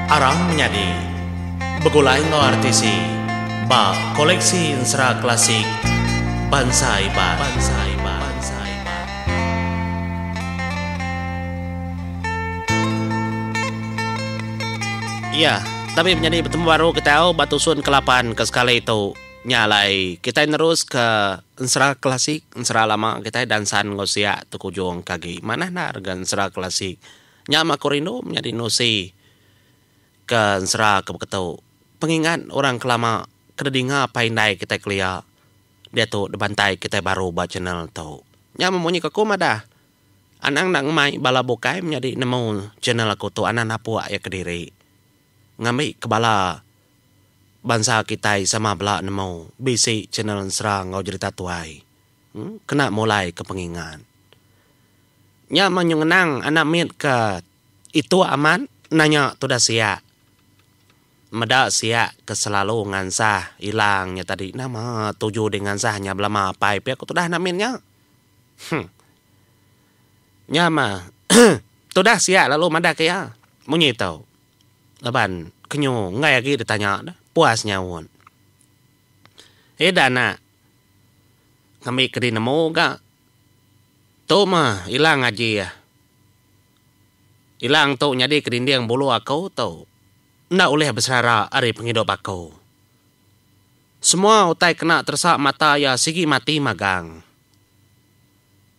Arang menyadi begulai enggau RTC ba Koleksi Ensera Klasik Bansa Iban. Iya, tabi menyadi betemu baru kitai tau ba tusun ke lapan ke sekali tu. Nya alai, kitai neruska. Ensera klasik, ensera lama kitai dansan enggau sia tu kujung ke agi. Manah enda rega ensera klasik. Nya mah aku rindu menyadi nusi ke ensera ke beketu. Pengingat orang kelama ke didinga apai indai kitai kelia diatu dibantai kitai baru ba channel tu. Nya mah munyi ke aku madah anang enda ngemai bala bukai menyadi nemu channel aku tu anang napuk iya kediri ngambi ke bala. Bansa kitai sama bela nemu bisi channel ensera enggau jerita tuai kena mulai ke pengingat. Nya mah nyuh ngenang anak mit ke itu amat nanya tudah siak. Meda siak ke selalu ngansah ilang nya tadi nama tuju dih ngansah nya belama apai pia ku tudah anak mit nya. Huh. Nya mah tudah siak lalu madah ke iya munyi tu. Laban kenyu enggai agi ditanya ne, puas nyaut. Ida anak ngambi kedi nemu ga tu mah Ilang Aji ah. Ilang tu nyadi ke dinding bulu aku tu enda ulih beserara ari pengidup aku. Semua utai kena teresa mata iya sigi mati magang.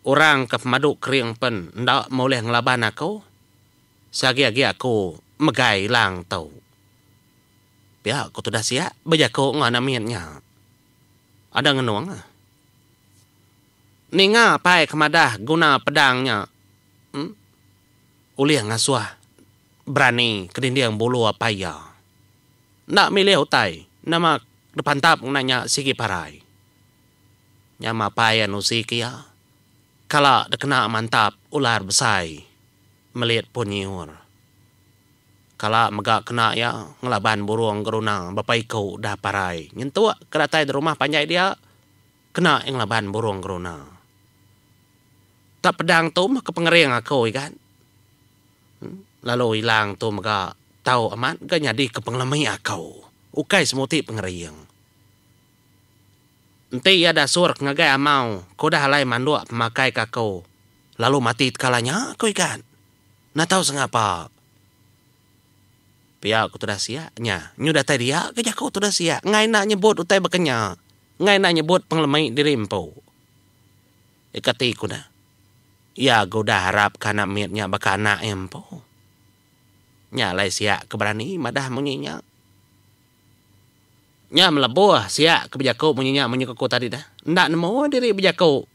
Orang ke pemadu kering pen enda meh ulih ngelaban aku. Seagi-agi aku megai lang tu. Pia ku tudah sia bejaku enggau anak mit nya. Ada ngenung. Ninga pai ke madah guna pedang nya em ulih ngasuh berani ke dinding bulu apai iya. Enda milih utai nama dipantap ngena nya sigi parai. Nyama pai anu sik iya. Kala dikena mantap ular besai melit pun nyiur. Kala mega kena iya ngelaban burung geruna bepa iku udah parai nyentuk ke datai di rumah panjai dia, kena iya ngelaban burung geruna. Tak pedang tu meh ke pengering aku igat lalu ilang tu mega tau amat ga nyadi ke pengelemi aku ukai semuti pengering. Enti iya da surk ngagai amau, ko udah alai manduk pemakai ka ko lalu mati tekala nya ko ikan. Enda tau sengapa. Pia ko tudah siak nya, nyu datai dia ke jako tudah siak engai enda nyebut utai baka nya, engai enda nyebut pengelemi diri empu. Ika ti ko ne, iya ga udah arap ka anak mit nya baka anak iya empu. Nya alai siak ke berani madah munyi nya. Nya melebuh siak ke bejaku munyi nya menyuka ku tadi dah enda nemu diri bejaku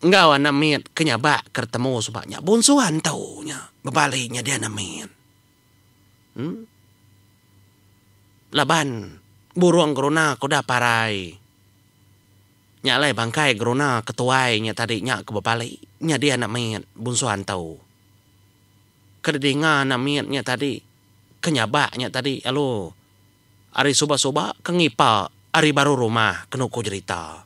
enggau anak mit ke nyabak ke retemu suba nya bunsu antu nya bebali nyadi anak mit em laban burung geruna ke udah parai nya alai bangkai geruna ke tuai nya tadi nya ke bebali nyadi anak mit bunsu antu ke didinga anak mit nya tadi ke nyabak nya tadi alu. Ari suba suba ke ngipa ari baru rumah ke nuku jerita.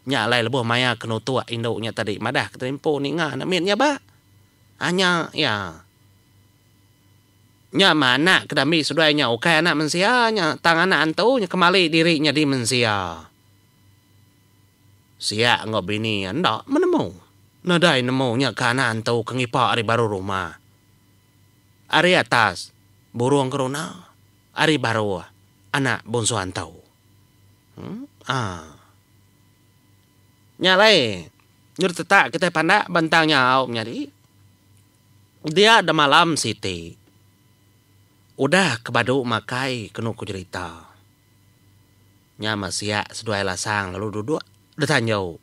Nya alai lebuh maya ke nutuk indu nya tadi madah ke telempo ninga enda mit nya ba. Anya iya. Nya meh anak ke dambi seduai nya ukai anak mensia nya tang anak antu nya kemali diri nyadi mensia. Siak enggau bini iya enda menemu. Nadai nemu nya ke anak antu ke ngipa ari baru rumah. Ari atas, burung keruna, ari baruh, anak bunsu antu. Haa. Nya alai, nyudah tetak kitai pandak bentang nyau menyadi, dia demalam siti, udah ke badu makai kenu ku jerita. Nya meh sia seduai Lasang lalu duduk detanjau.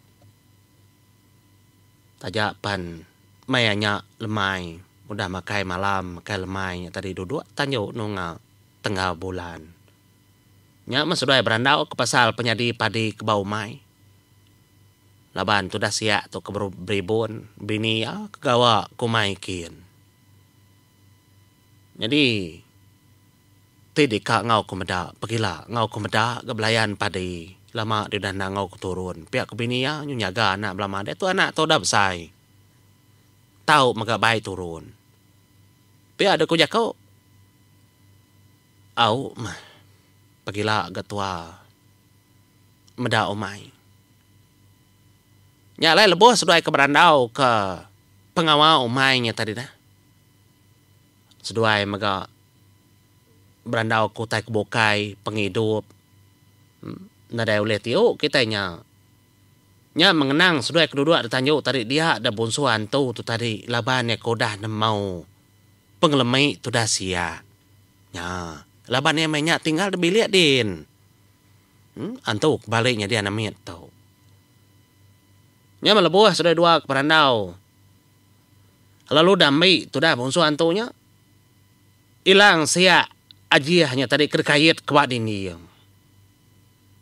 Taja pan maya nya lemai udah makai malam makai lemai nya tadi duduk detanjau nunga tenggau bulan. Nya meh seduai berandau ke pasal penyadi padi ke ba umai. Laban tudah sia tu ke beribun bini iya ke gawa ke umai kin. Nyadi, ti deka enggau aku meda pegila enggau aku meda ga belayan padi lama deh udah endang enggau aku turun. Pia ku bini iya nyu nyaga anak bala madai tu anak tu udah besai tau mega bai turun. Pia deh ku jaku au meh pegila ga tua meda umai. Nya alai lebuh seduai ke berandau ke pengawa umai nya tadi neh. seduai mega berandau ke utai ke bukai pengidup nadai ulih tiu kitai nya nya mengenang seduai kedudok da tanju tadi dia da bunsu antu tu tadi laban iya ke udah nemau pengelemi tu udah sia nya laban iya meh nya tinggal da bilik din em antu ke bale nyadi anak mit tu nya meh lebuh seduai dua ke berandau. lalu udah mbi tudah bungsu antu nya ilang siak ajih nya tadi ke dikait ke ba dindi iya.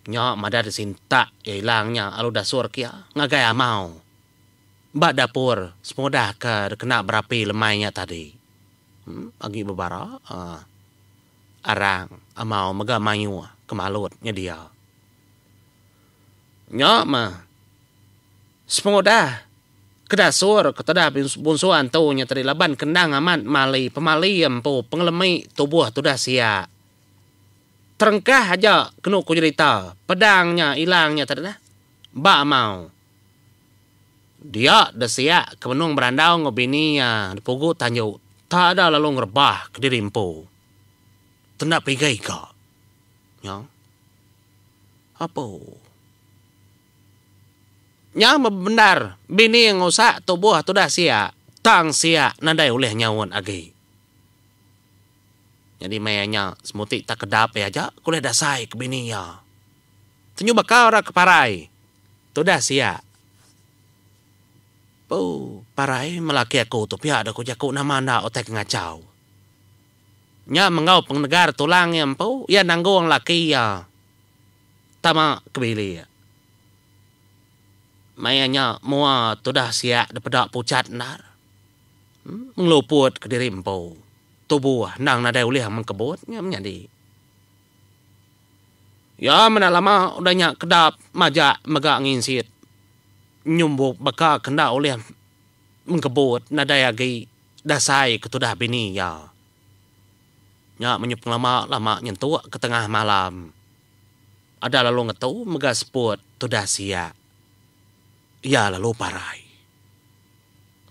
Nya madah disintak iya ilang nya lalu dasur ke iya ngagai amau ba dapur semudah ke dikena berapi lemai nya tadi. Emm agi bebara aaa arang amau mega mayuh ke malut nyedia. Nya meh Sepengudah kedasur ketudah bunsuan ntu nya tadi laban ke endang amat mali pemali iya empu pengelemi tubuh tudah sia. Terengkah aja kenu ku jerita pedang nya ilang nya tadi nah. Ba amau dia deh sia ke benung berandau enggau bini iya di Pugu Tanju tada lalu ngerebah kediri empu tu enda peiga-iga. Nyau. Apuh. Nya bebendar bini ngusak tubuh tudah sia tang sia nadai ulih nyaut agi. Nyadi meh iya nya semuti tak kedap iya aja ke ulih dasai ke bini iya. Tenyu baka orang ke parai tudah sia. Buu parai meh laki aku tu pia deh ku jaku nama enda utai ke ngachau. Nya menggau pengenegar tulang iya empu iya nanggung laki iya. Tama ke bilik. Maya nya mua tudah siak dipeda pucat endar. Ngeluput ke diri empu. Tubuh endang nadai ulih mengkebut nya menyadi. Iya meda lama udah nya kedap majak mega nginsit nyumbu baka ke enda ulih mengkebut nadai agi dasai ke tudah bini iya. Nya menyup ngelama lama nyentuk ke tengah malam. Ada lalu ngetu mega seput tudah siak. Iya lalu parai.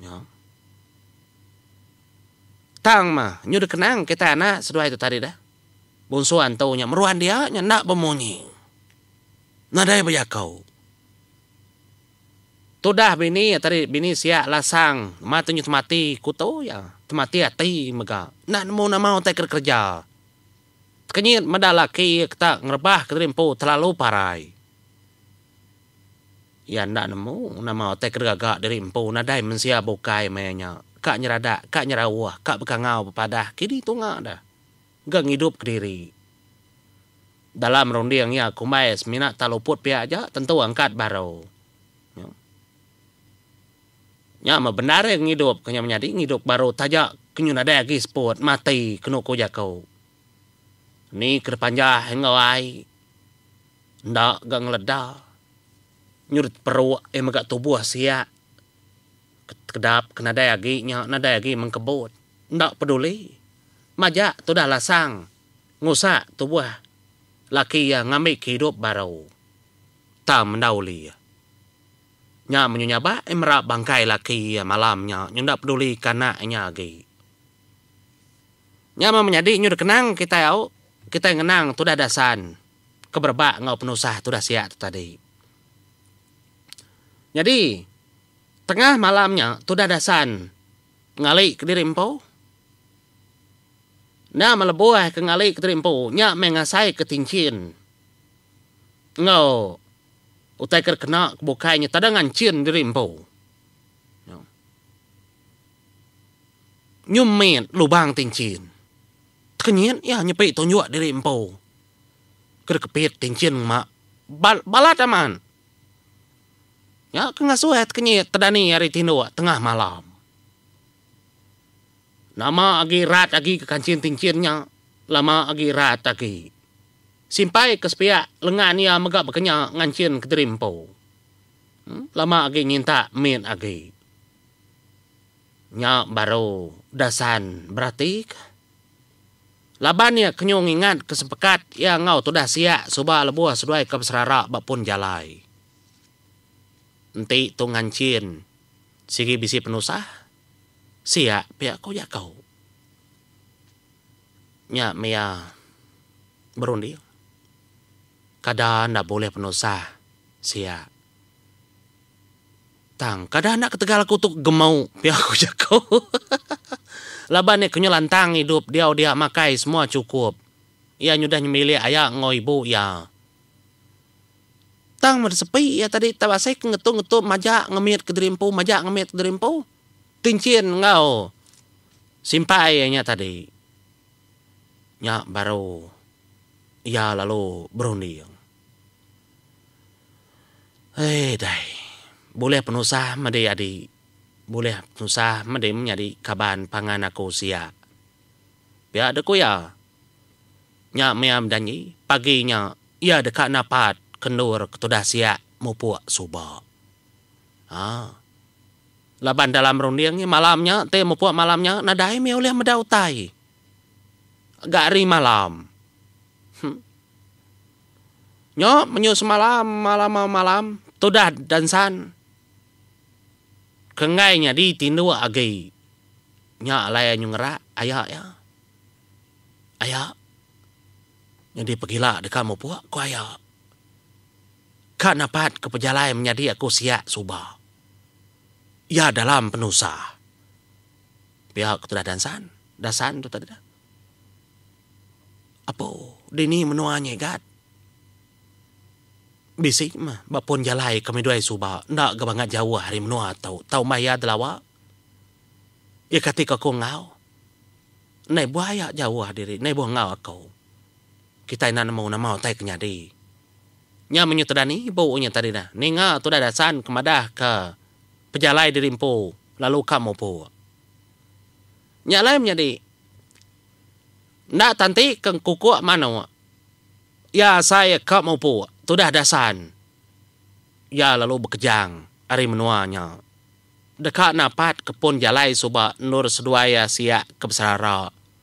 Nya. Tang mah nyu dikenang kitai anak seduai tu tadi dah. Bunsu antu nya meruan dia nya enda bemunyi. Nadai bejaku. Tudah bini iya tadi, bini siak lasang ma tunjut mati ku tu iya, temati ati mega enda nemu nama utai ke dikereja. Tekenyit meda laki iya ketak ngerebah ke diri empu telalu parai. Iya enda nemu nama utai ke digaga diri empu nadai mensia bukai maya nya, ka nyeradak, ka nyerauh, ka bekangau bepadah kini tunga deh. ga ngidup kediri. Dalam runding iya kumbai semina taluput pia aja tentu angkat baru. Nya. Nya meh bendar iya ngidup ke nya menyadi ngidup baru taja ke nyu nadai agi seput mati kenu ku jaku. Ni ke dipanjah enggau ai enda ga ngeleda nyu diteperuk iya mega tubuh siak Kedap ke nadai agi nya nadai agi mengkebut, enda peduli. Majak tudah Lasang ngusak tubuh laki iya ngambika idup baru. Tang menda uli iya. Nya munyi nyabak iya merap bangkai laki iya malam nya nyu enda pedulika anak inya agi. Nya meh menyadi nyu dikenang kitai au, kitai ngenang tudah Dasan ke berebak enggau penusah tudah sia tu tadi. Nyadi, tengah malam nya tudah Dasan ngali kediri empu. Nya meh lebuh ke ngali kediri empu nya meh ngasaika tinchin enggau utai ke dikena ke bukai nya tada nganchin diri empu. Nyumit lubang tinchin. Tekenyit iya nyepi tunjuk diri empu. Ke dikepit tinchin ngema bal balat aman. Nya ke ngasuh ai tekenyit tedani ari tinduk tengah malam. Nama agi rat agi ke kanchin tinchin nya lama agi rat agi. Simpai ke sepiak lengan iya mega bekenya nganchin kediri empu. Em lama agi nyintak mit agi. Nya baru dasan beratikah. Laban iya kenyu ngingat ke sempekat iya enggau tudah siak suba lebuh seduai ke beserara ba pun jalai. Enti tu nganchin sigi bisi penusah, siak pia ku jaku. Nya meh iya berunding kada enda bulih penusah siak. Tang, kada anak ketegal aku tu gemau pia ku jaku. Laban iya kenyau lantang idup diau dia makai semua chukup. Iya nyudah nyembilik aya enggau ibu iya. Tang meda sepi iya tadi tau asai ke ngetu-ngetu maja ngemit kediri empu maja ngemit kediri empu. Tinchin enggau simpai iya nya tadi. Nya baru iya lalu berunding. Eii dai. Bulih penusah medi adi. Bulih penusah medi menyadi kaban pangan aku sia. Pia dek ku iya. Nya mia bejanji pagi nya iya deka napat ke endur ke tudah sia mupuk suba. Haa. Laban dalam runding malam nya ti mupuk malam nya nadai mih ulih meda utai. ga ari malam. Huh. Nyo menyu semalam malam au malam tudan dansan ke enggai nyadi tinduk agi nya alai anyu ngerak aya iya. Aya nyadi pegila deka mupuk ku aya. Ka napat ke pejalai menyadi aku siak suba. Iya dalam penusah. Pia ku tudah dansan, dasan tu tadi dah. Apo dini menua nyegat. Bisi meh ba pun jalai kami duai suba enda ga bangat jauh ari menua tu tau meh iya telawa. Iya kati ku aku enggau. Endai buah iya jauh diri endai buah enggau aku. Kitai enda nemu nama utai ke nyadi. Nya menyu tudah ni ibu nya tadi dah. Ninga tudah dasan ke madah ke. pejalai diri empu lalu ka mupuk. Nya alai menyadi enda tanti ke engkukuk manuk iya asai ka mupuk tudah dasan iya lalu bekejang ari menua nya deka napatka pun jalai suba endur seduai asiak ke beserara.